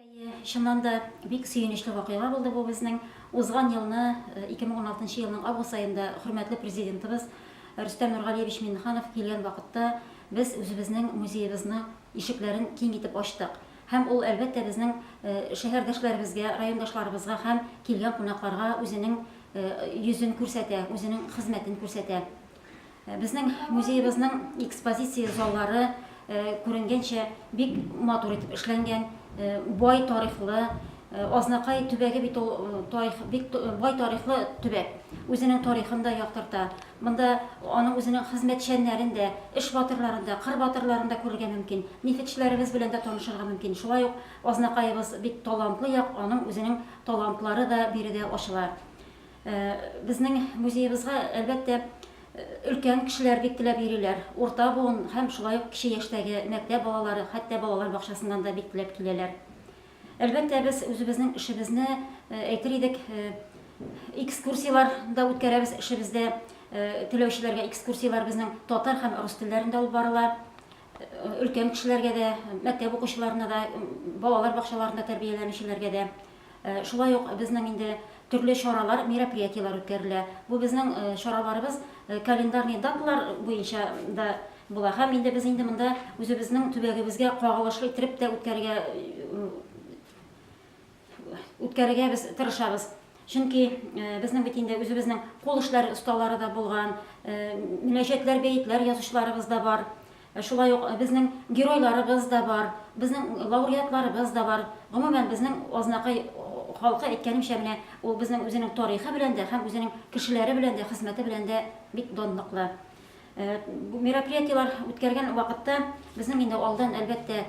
Әйе, чыннан да, бик сөенечле вакыйга булды бу безнең. Узган елны, 2016 елның август аенда хөрмәтле Президентыбыз Рөстәм Нургалиевич Миңнеханов килгән вакытта без үзебезнең музеебызны ишекләрен киң итеп ачтык. Һәм ул, әлбәттә, безнең шәһәрдәшләребезгә, райондашларыбызга һәм килгән кунакларга үзенең йөзен күрсәтә, үзенең хезмәтен күрсәтә. Безнең музеебызның экспозиция заллары, күренгәнчә, бик матур итеп эшләнгән, бай тарихлы. Азнакай төбәге бит ул тарих, бик бай тарихлы төбәк. Үзенең тарихын да яктырта. Монда аның үзенең хезмәтчәннәрен дә, эш батырларын да, кыр батырларын да күрергә мөмкин. Нефетчеләребез белән дә танышырга мөмкин. Шулай ук Азнакаебыз бик талантлы як, аның үзенең талантлары да биредә ачыла. Безнең музеебызга, әлбәттә, өлкән кешеләр бик теләп йөриләр. Урта буын һәм шулай ук кече яшьтәге мәктәп балалары, хәтта балалар бакчасыннан да бик теләп киләләр. Әлбәттә, без үзебезнең эшебезне, әйтер идек, экскурсияләр дә үткәрәбез. Эшебездә теләүчеләргә экскурсияләр безнең татар һәм рус телләрендә алып барыла. Өлкән кешеләргә дә, мәктәп укучыларына да, балалар бакчаларында тәрбияләнүчеләргә дә Шулай ук безнең инде төрле чаралар, мероприятиеләр үткәрелә. Бу безнең чараларыбыз календарный даталар буенча да була. Һәм инде без инде монда үзебезнең төбәгебезгә кагылышлы иттереп тә үткәрергә үткәрергә без тырышабыз. Чөнки безнең бит инде үзебезнең кул эшләре осталары да булган, мөнәҗәтләр, бәетләр язучыларыбыз да бар. Шулай ук безнең геройларыбыз да бар, безнең лауреатларыбыз да бар. Гомумән, безнең Азнакай халкы, әйткәнемчә, менә ул безнең үзенең тарихы белән дә һәм үзенең кешеләре белән дә, хезмәте белән дә бик данлыклы. Бу мероприятиеләр үткәргән вакытта безнең инде алдан, әлбәттә,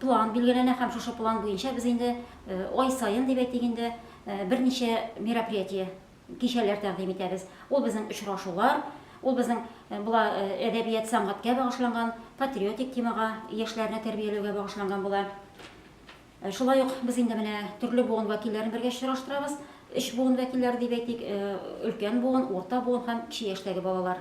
план билгеләнә һәм шушы план буенча без инде ай саен, дип әйтик инде, берничә мероприятие Кичәләр тәкъдим итәбез. Ул безнең очрашулар, ул безнең була әдәбият, сәнгатькә багышланган, патриотик темага, яшьләрне тәрбияләүгә багышланган була. Шулай ук без инде менә төрле буын вәкилләрен бергә очраштырабыз. Өч буын вәкилләре дип әйтик, өлкән буын, урта буын һәм кече яшьтәге балалар.